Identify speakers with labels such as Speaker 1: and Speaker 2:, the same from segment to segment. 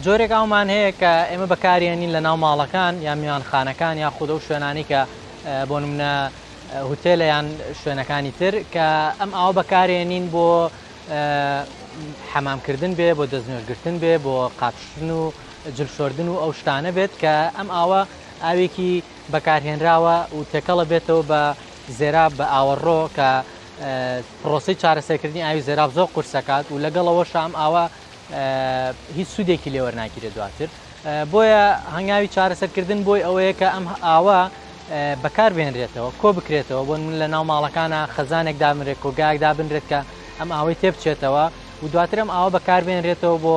Speaker 1: جۆرێک ئەومان هەیە کە ئێمە بەکارێنین لە ناو ماڵەکان یا میوانخانەکان یا خودە و شوێنانی کە بۆ منە هوتێلە یان شوێنەکانی تر کە ئەم ئاو بەکارێنین بۆ حەمامکردن بێ بۆ دەستنوێژگرتن بێ بۆ قاپشتن و جل شۆردن و ئەو شتانە بێت کە ئەم ئاوە ئاوێکی بەکارهێنراوە و تێکەڵە بێتەوە بە زێراب بە ئاوەڕۆ کە پرۆسی چارەسەرکردنی ئاوی زێراب زۆر قورسەکات و لەگەڵەوە شام ئاوە هیچ سوودێکی لێوەرناگیرە دواتر بۆیە هەنگاوی چارەسەرکردن بۆی ئەوەیە کە ئەم ئاوە بەکار بێنرێتەوە کۆ بکرێتەوە بۆن من لە ناو ماڵەکانە خەزانێک دامرێت کۆگایەک دابنرێت کە ئەم ئاوەی تێبچێتەوە و دواترم ئاوە بەکاربێنرێتەوە بۆ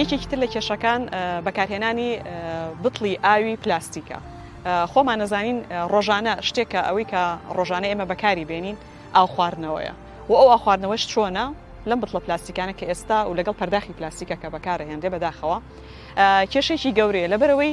Speaker 2: یەکێکی تر لە کێشەکان بەکارهێنانی بتڵی ئاوی پلاستیکە خۆمان نەزانین ڕۆژانە شتێکە ئەوەی کە ڕۆژانە ئێمە بەکاری بێنین ئاو خواردنەوەیە و ئەو ئاخواردنەوەش چۆنە لەم بتڵە پلاستیکانە کە ئێستا و لەگەڵ پەرداخی پلاستیکە کە بەکارە هێندێ بەداخەوە کێشێکی گەورەیە لەبەرەوەی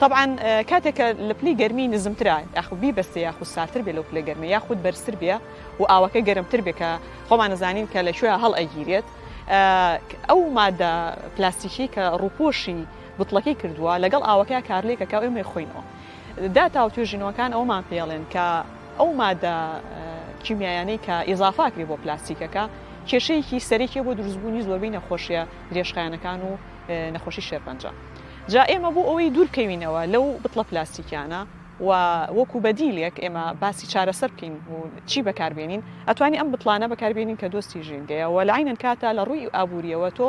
Speaker 2: تەبعەن کاتێک کە لە پلی گەرمی نزمترە یاخود بیبەستێ یاخود سارتر بێ لەو پلە گەرمە یاخود بەرزتر بێ و ئاوەکە گەرمتر بێ کە خۆمان ئەزانین کە لە کوێ هەڵ ئەگیرێت ئەو مادە پلاستیکی کە ڕووپۆشی بتڵەکەی کردووە لەگەڵ ئاوەکە کارلێکەکە و ئێمەی خۆینەوە داتا و توێژینەوەکان ئەومان پێڵێن کە ئەو مادە کیمیایانەی کە ئیزافاکرێ بۆ پلاستیکەکە کێشەیەکی سەرێکێ بۆ دروستبوونی زۆربەی نەخۆشیە درێژخایەنەکان و نەخۆشی شێرپەنجە جا ئێمە بۆ ئەوەی دوور بکەوینەوە لەو بتڵە پلاستیکیانە و وەکو بەدیلێک ئێمە باسی چارەسەر بکەین و چی بەکاربێنین ئەتوانی ئەم بتڵانە بەکاربێنین کە دۆستی ژینگەیە و لەعینەن کاتە لە ڕووی ئابووریەوە تۆ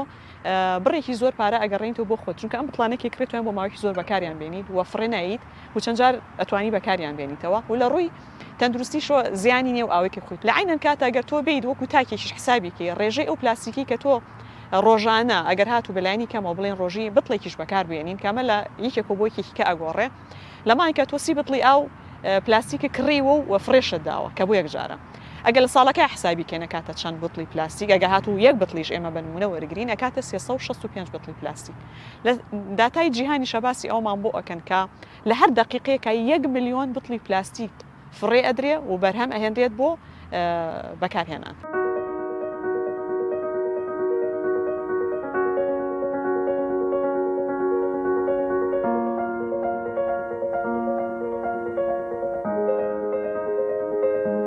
Speaker 2: بڕێکی زۆر پارە ئەگەڕێنیتەوە بۆ خۆت چونکە ئەم بتڵانێکی کڕێتوان بۆ ماوەی زۆر بەکاریان بێنیت و فڕێ نایت و چەند جار ئەتوانی بەکاریان بێنیتەوە و لە ڕووی تەندروستی شۆ زیانی نیە و ئاوێکی خویت لە عەینەن کاتە گەر تۆ بێیت وەکو تاکێکیش حسابی کەی ڕێژەی ئەو پلاستیکی کە تۆ ڕۆژانە ئەگەر هاتو بە لایەنی کەمەوە بڵێن ڕۆژی بتڵێکیش بەکار بێنین کە ئەمە لە یەکێکەوە بۆ یەکێکی کە ئەگۆڕێ لە مانکە تۆ سی بتڵی ئاو پلاستیکی کڕیوە و وە فرێشت داوە کە بۆ یەک جارە ئەگەر لە ساڵەکە حسابی کێنە کاتە چەند بتڵی پلاستیک ئەگە هاتو یەک بتڵیش ئێمە بە نمونە وەرگرین ئەکاتە 365 بتڵی پلاستیک لە داتای جیهانی شەباسی ئەومان بۆ ئەکەن کە لە هەر دەقیقێکا یەک ملیۆن بتڵی پلاستیک فڕێ ئەدرێ و بەرهەم ئەهێنرێت بۆ بەکارهێنان.